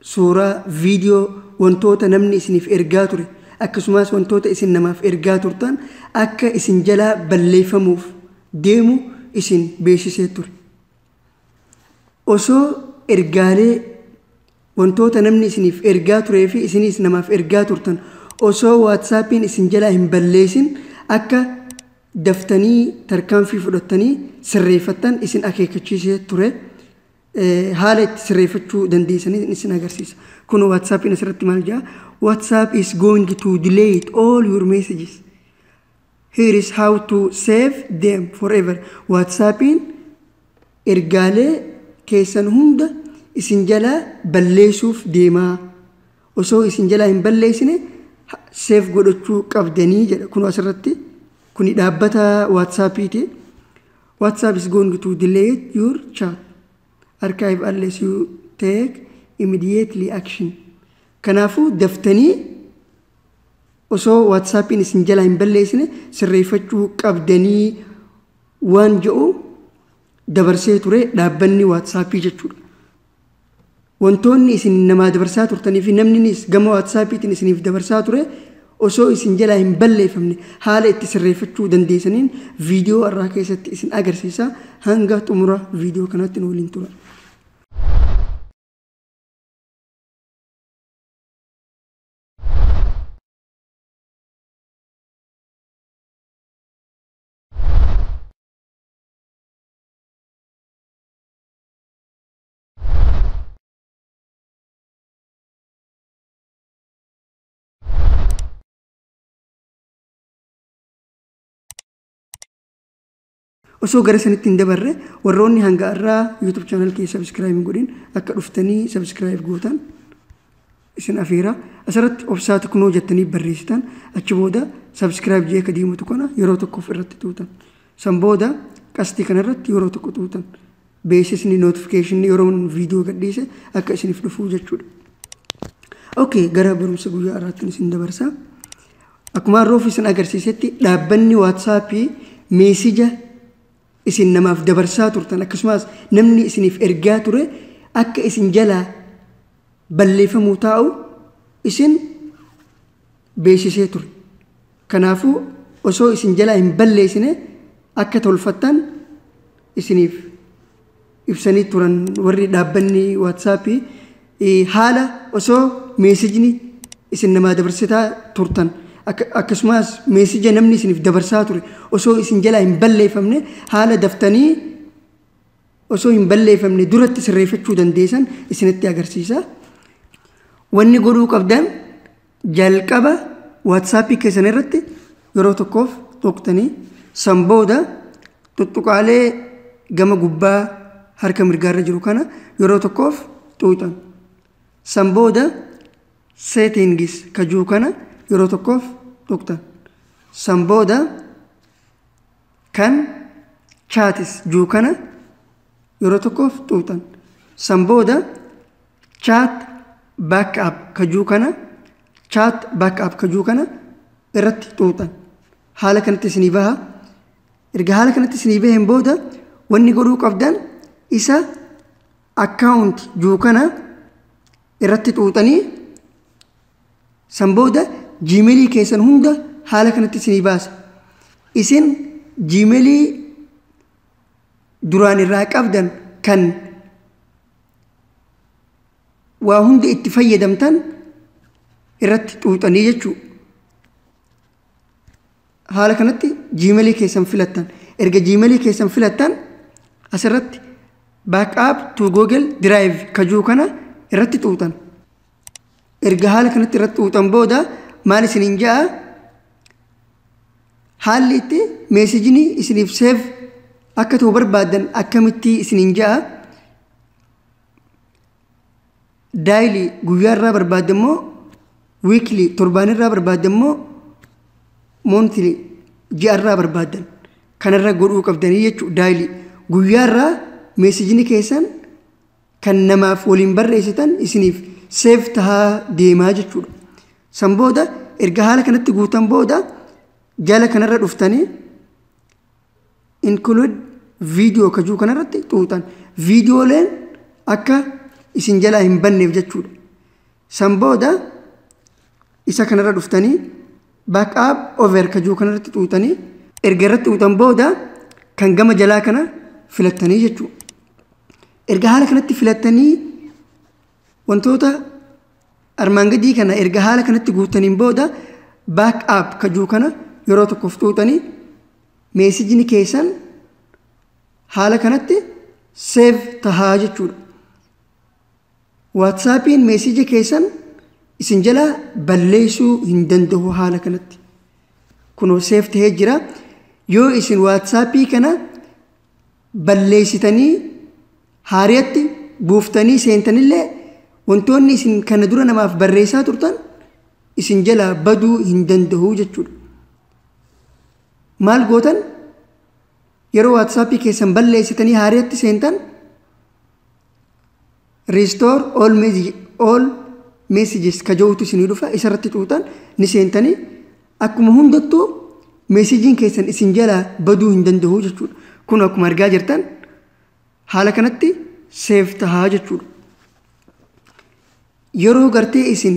suuraa, video, wantoota namni isiniif ergaa ture akkasumaas wantoota isin namaaf ergaa turtan akka isin jalaa balleeffamuuf deemu isin beeksisee ture. Osoo ergaalee wantoota namni isiniif ergaa turee fi isiniis namaaf ergaa turtan osoo waatsaappiin isin jalaa hin balleessin akka daftanii tarkaanfii fudhattanii sirreeffattan isin akeekkachiisee ture. haala itti sirreeffachuu dandeessan isin agarsiisa. Kun WhatsAppiin asirratti maal jedha? WhatsApp is going to delay all your messages. Here is how to save them forever. WhatsAppiin ergaalee keessan hunda isin jalaa balleessuuf deemaa. Osoo isin jalaa hin balleessine seef godhachuu qabdanii jedha. Kun asirratti kuni dhaabbata WhatsAppiiti. WhatsApp is going to delete your chat archive unless you take immediately action. Kanaafuu daftanii osoo WhatsAppiin isin jalaa hin balleessine sirreeffachuu qabdanii waan jedhu dabarsee ture dhaabbanni WhatsAppii jechuudha. Wantoonni isin namaa dabarsaa turtanii fi namninis gama waatsaapiitiin isiniif dabarsaa ture osoo isin jalaa hin balleeffamne haala itti sirreeffachuu dandeessaniin viidiyoo irraa keessatti isin agarsiisa hanga xumura viidiyoo kanaatti nu waliin tura. osoo gara sanitti hin dabarre warroonni hanga irraa YouTube channel kee subscribe hin godhin akka dhuftanii subscribe gootan isin afeera. Asirratti obsaa tiknoo jettanii barreessitan achi booda subscribe jee ka diimu tuqana yeroo tokkoof irratti tuutan. San booda qastii kana irratti yeroo tokko tuutan. Beeksisni notification yeroo viidiyoo gadhiise akka isiniif dhufuu jechuudha. Okay, gara barumsa guyyaa irraatti isin dabarsa. Akkuma roof isin agarsiisetti dhaabbanni waatsaappii meesija isin namaaf dabarsaa turtan akkasumas namni isiniif ergaa ture akka isin jalaa balleeffamuu taa'u isin beeksisee ture. Kanaafuu osoo isin jalaa hin balleessine akka tolfattan isiniif ibsanii turan warri dhaabbanni waatsaappii eh, haala osoo meesijni isin namaa dabarsitaa turtan akka- akkasumas meesija namni isiniif dabarsaa ture osoo isin jalaa hin balleeffamne haala daftanii osoo hin balleeffamne duratti sirreeffachuu dandeessan isinitti agarsiisa. Wanni godhuu qabdan jalqaba waatsaappii keessan irratti yeroo tokkoof tuqtanii san booda tuttuqaalee gama gubbaa harka mirgaarra jiru kana yeroo tokkoof xuuxan. San booda seetiingis kajuu kana yeroo tokkoof tuqtan. San booda Kan chaatis juu kana yeroo tokkoof xuuxan. San booda chaat back up ka juu kana chaat back up ka juu kana irratti xuuxan. Haala kanatti isinii baha. Erga haala kanatti isinii baheen booda wanni godhuu qabdan isa akkaawunti juu kana irratti xuuxanii San booda jiimelii keessan hunda haala kanatti isinii baasa. Isin jiimelii duraan irraa qabdan kan waa hunda itti fayyadamtan irratti xuuxanii jechuudha. Haala kanatti jiimelii keessan filattan. Erga jiimelii keessan filattan asirratti backup to google drive kajuu kana irratti xuuxan. erga haala kanatti irratti uuxan booda maal isiniin ja'a haalli itti meesejini isiniif seef akka ta'u barbaaddan akkamitti isiniin ja'a daayilii guyyaa irraa barbaadda immoo wiikli torbaan irraa barbaadda immoo moontili ji'a irraa barbaaddan kanarra godhuu qabdanii jechuudha daayilii guyyaa irraa meesejini keessan kan namaaf waliin barreessitan isiniif seef tahaa deemaa jechuudha. San booda erga haala kanatti guutan booda jala kanarra dhuftanii include video kajuu kanarratti xuuxan. Viidiyooleen akka isin jalaa hin banneef jechuudha. San booda isa kanarra dhuftanii backup over ka jiru kanarratti xuuxanii erga irratti xuuxan booda kan gama jalaa kana filattanii jechuudha. Erga haala kanatti filattanii wantoota armaan gadii kana erga haala kanatti guuttaniin booda backup ka jiru kana yeroo tokkoof xuuxanii meesijni keessan haala kanatti save tahaa jechuudha. Waatsaapiin meeseeja keessan isin jalaa balleessuu hin danda'u haala kanatti. Kunoo seef ta'ee jira. Yoo isin waatsaappii kana balleessitanii haariyatti buuftanii seentanillee wantoonni isin kana dura namaaf barreessaa turtan isin jalaa baduu hin danda'u jechuudha. Maal gootan yeroo waatsaappii keessan balleessitanii haariyatti seentan restore all message- all messages ka ja'utu isinii dhufa isarratti xuuxan ni seentanii akkuma hundattuu meesejiin keessan isin jalaa baduu hin danda'u jechuudha kun akkuma argaa jirtan haala kanatti seef tahaa jechuudha yeroo gartee isin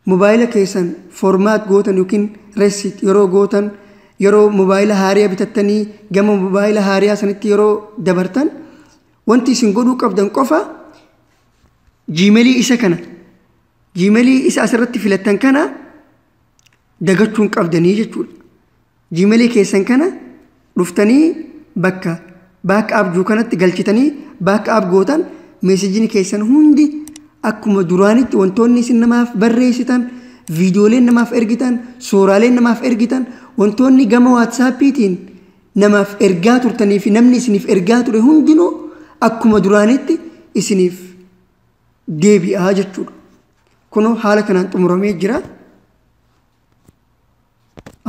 Mobaayila keessan format gootan ykn reset yeroo gootan yeroo mobaayila haariya bitattanii gama mobaayila haariyaa sanitti yeroo dabartan wanti isin godhuu qabdan qofa jiimelii isa kana jiimelii isa asirratti filattan kana dagachuun qabdanii jechuudha. Gmail keessan kana dhuftanii bakka back up jiru kanatti galchitanii back up gootan meesejini keessan hundi akkuma duraanitti wantoonni isin namaaf barreessitan viidiyooleen namaaf ergitan suuraaleen namaaf ergitan wantoonni gama waatsaappiitiin namaaf ergaa turtanii fi namni isiniif ergaa ture hundinuu akkuma duraanitti isiniif deebi'aa jechuudha. Kunoo haala kanaan xumuramee jira.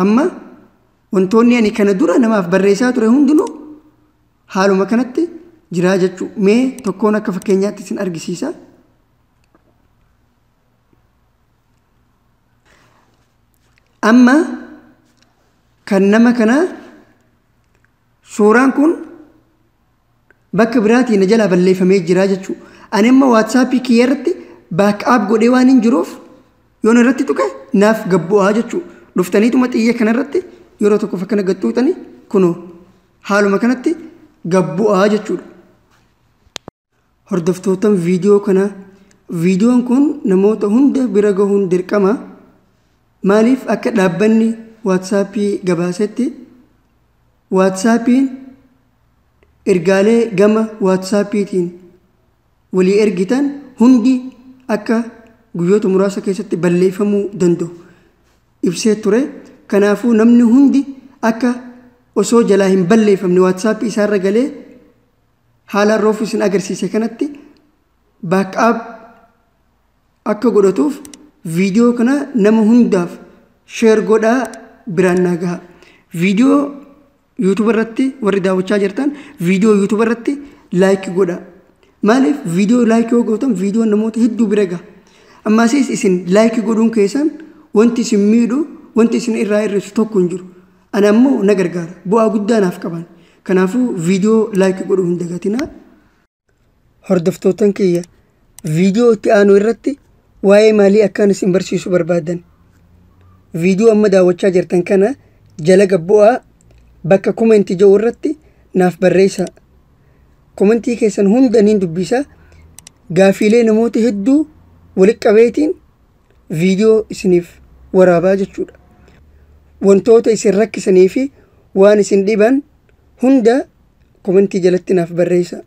Amma wantoonni ani kana dura namaaf barreessaa ture hundinuu haaluma kanatti jiraa jechuu mee tokkoon akka fakkeenyaatti isin argisiisa. Amma kan nama kanaa suuraan kun Bakka biraatii na jalaa balleeffamee jira jechuu. Ani amma WhatsApp kiyya irratti back up godhee waan hin jiruuf yoon irratti tuqe naaf gad bu'aa jechuu. Dhuftaniituma xiyya kana irratti yeroo tokkoof akkana gad tuqxanii kunoo haaluma kanatti gad bu'aa jechuudha. Hordoftootan viidiyoo kanaa viidiyoon kun namoota hunda bira gahuun dirqama. Maaliif akka dhaabbanni WhatsApp gabaasetti WhatsAppiin ergaalee gama waatsaappiitiin walii ergitan hundi akka guyyoota muraasa keessatti balleeffamuu danda'u ibsee ture. Kanaafuu namni hundi akka osoo jalaa hin balleeffamne waatsaappii isaarra galee haala roofu isin agarsiise kanatti baakkaap akka godhatuuf viidiyoo kana nama hundaaf sheer godhaa biraan naa gaha. Viidiyoo YouTube irratti warri daawwachaa jirtan viidiyoo YouTube irratti like godha. Maaliif viidiyoo like yoo gootan viidiyoo namoota hedduu bira gaha. Ammaasiis isin like godhuun keessan wanti isin miidhu wanti isin irraa hir'isu tokko hin jiru. Ana immoo na gargaara. Bu'aa guddaa naaf qaban. Kanaafuu viidiyoo like godhuu hin dagatinaa. Hordoftootan kiyya viidiyoo itti aanu irratti waa'ee maalii akkaan isin barsiisu barbaadan. Viidiyoo amma daawwachaa jirtan kana jala gabbu'aa bakka komenti jedhu irratti naaf barreessaa. Komentii keessan hunda niin dubbisa. Gaafiilee namoota hedduu walitti qabeetiin viidiyoo isiniif waraabaa jechuudha. Wantoota isin rakkisanii fi waan isin dhiban hunda komentii jalatti naaf barreessa.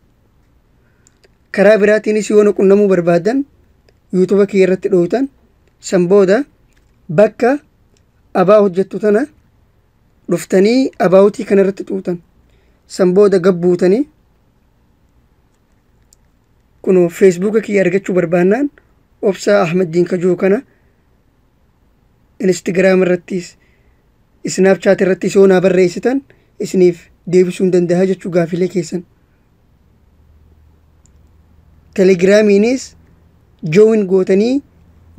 Karaa biraatiinis yoo na qunnamuu barbaadan yuutuba kiyya irratti dhooytan san booda bakka abaa hojjettu tana dhuftanii abaawutii kana irratti xuuxan san booda gabbuutanii kunoo feesbuuka kiyya argachuu barbaannaan obsaa ahmad diinkajuu kana Instagram irrattis Snapchat irrattis yoo naa barreessitan isiniif deebisuu hin danda'a jechuu gaafilee keessan. Telegiraamiinis join gootanii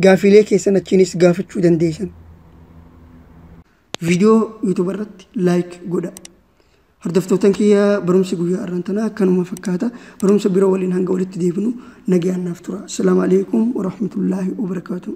gaafilee keessan achiinis gaafachuu dandeessan. Viidiyoo YouTube irratti like godha. Hordoftootan kiyya barumsi guyyaa arraan tanaa akkanuma fakkaata. Barumsa biro waliin hanga walitti deebinu nagayaan naaf tura. Assalaamu alaikum warahmatullaahi wabarakaatuh.